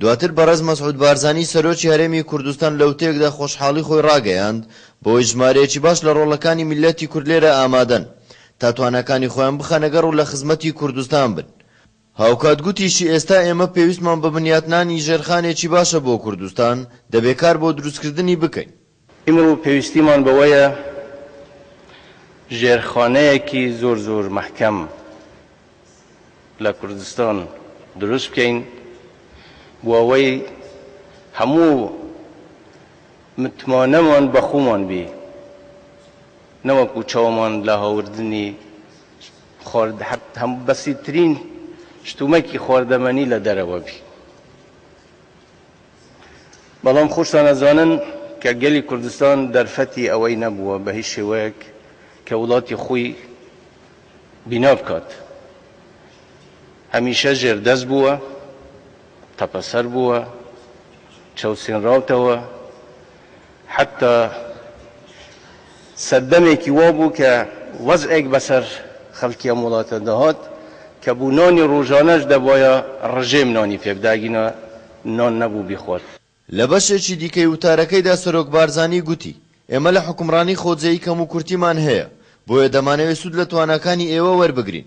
دواتر بەڕێز مەسعود بارزانی سەرۆکی هەرێمی کوردستان لەوتەیەکدا خۆشحاڵی خۆی ڕاگەیاند بەوەی ژمارەیەکی باش لە ڕۆڵەکانی میللەتی کورد لێرە ئامادەن تا تواناکانی خۆیان بخەنەگەڕ و لە خزمەتی کوردستان بن. هاوکات گوتیشی ئێستا ئێمە پێویستمان بە بنیاتنانی ژێرخانێکی باشە بۆ کوردستان، دەبێ کار بۆ دروستکردنی بکەین. ئیمڕوو پێویستیمان بەوەیە ژێرخانەیەکی زۆر زۆر مەحکەم لە کوردستان دروست بکەین بۆ ئەوەی هەموو متمانەمان بە خۆمان بی نەوەکو چاومان لە هاوردنی خوارد حەت هەم بەسیترین شتومەکی خواردەمەنی لە دەرەوە بی. بەڵام خۆشتان ئەزانن کە گەلی کوردستان دەرفەتی ئەوەی نەبووە بە هیچ شێوەیەک کە وڵاتی خۆی بینا بکات. هەمیشە ژێردەست بووە، تەپەسەر بووە، چەوسێنراوتەوە، حەتتا سەردەمێکی وا بوو کە وەزعێک بەسەر خەڵکی ئەم وڵاتە دەهات کە بۆ نانی ڕۆژانەش دەبوایە ڕژێم نانی پێ بدا ئەگینا نان نەبوو بیخوات. لە بەشێکی دیکەی وتارەکەیدا سەرۆک بارزانی گوتی، ئێمە لە حوکمڕانی خۆجێیی کەموکورتیمان هەیە، بۆیە دەمانەوێت سوود لە تواناکانی ئێوە وەربگرین.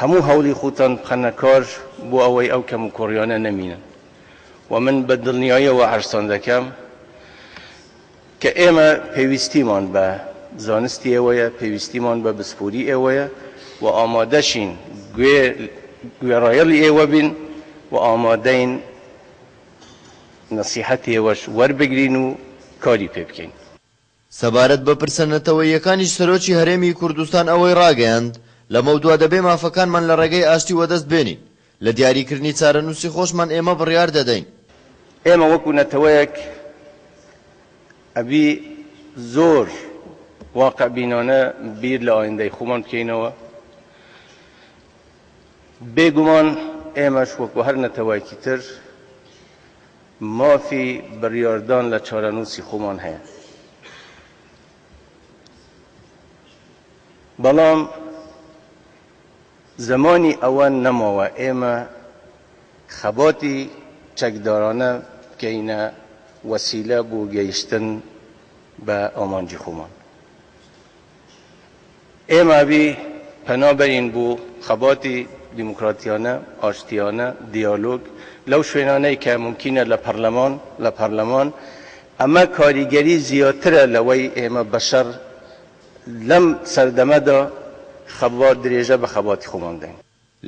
هەموو هەوڵی خوتان بخەنە کار بۆ ئەوەی ئەو کەموکوڕیانە نەمینن و من بە دڵنیایەوە عەرزتان دەکەم کە ئێمە پێویستیمان بە زانستی ئێوەیە، پێویستیمان بە بسپۆری ئێوەیە و ئامادەشین گوێڕایەڵی ئێوە بین و ئامادەین نەسیحەتی ئێوەش وەربگرین و کاری پێ بکەین. سەبارەت بە پرسە نەتەوەییەکانیش سەرۆکی هەرێمی کوردستان ئەوەی ڕاگەیاند، لەمەودوا دەبێ مافەکانمان لە ڕێگەی ئاشتی وەدەست بێنین، لە دیاریکردنی چارەنووسی خۆشمان ئێمە بڕیار دەدەین. ئێمە وەکو نەتەوەیەک ئەبی زۆر واقعبینانە بیر لە ئایندەی خۆمان بکەینەوە، بێگومان ئێمەش وەکو هەر نەتەوەیەکی تر، مافی بریاردان لە چارەنووسی خۆمان هەیە، بەڵام زمانی ئەوە نەماوە ئێمە خەباتی چەکدارانە بکەینە وەسیلە بۆ گەیشتن بە ئامانجی خۆمان. ئێمە بی پەنا بەرین بۆ خەباتی دیموکراتیانە، ئاشتیانە، دیالۆگ لەو شوێنانەی کە مومکینە لە پەرلەمان، لە پەرلەمان، ئەمە کاریگەری زیاترە لەوەی ئێمە بەشەر لەم سەردەمەدا خەبات درێژە بە خەباتی خۆمان بدەین.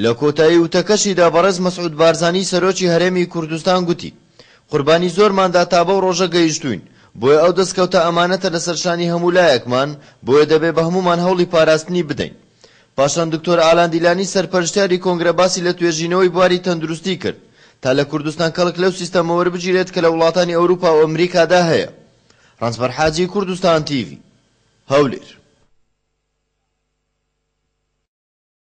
لە کۆتایی وتەکەشیدا بەڕێز مەسعود بارزانی سەرۆکی هەرێمی کوردستان گوتی، قوربانی زۆرماندا تا بەو ڕۆژە گەیشتووین، بۆیە ئەو دەستکەوتە ئەمانەتە لەسەر شانی هەموو لایەکمان، بۆیە دەبێ بە هەموومان هەوڵی پاراستنی بدەین. پاشان دکتۆر ئالان دیلانی سەرپەرشتیاری کۆنگرە باسی لە توێژینەوەی بواری تەندروستی کرد تا لە کوردستان کەڵک لەو سیستەمە وەربگیرێت کە لە وڵاتانی ئەوروپا و ئەمریکادا هەیە. ڕەنجبەر حاجی، کوردستان تیڤی، هەولێر.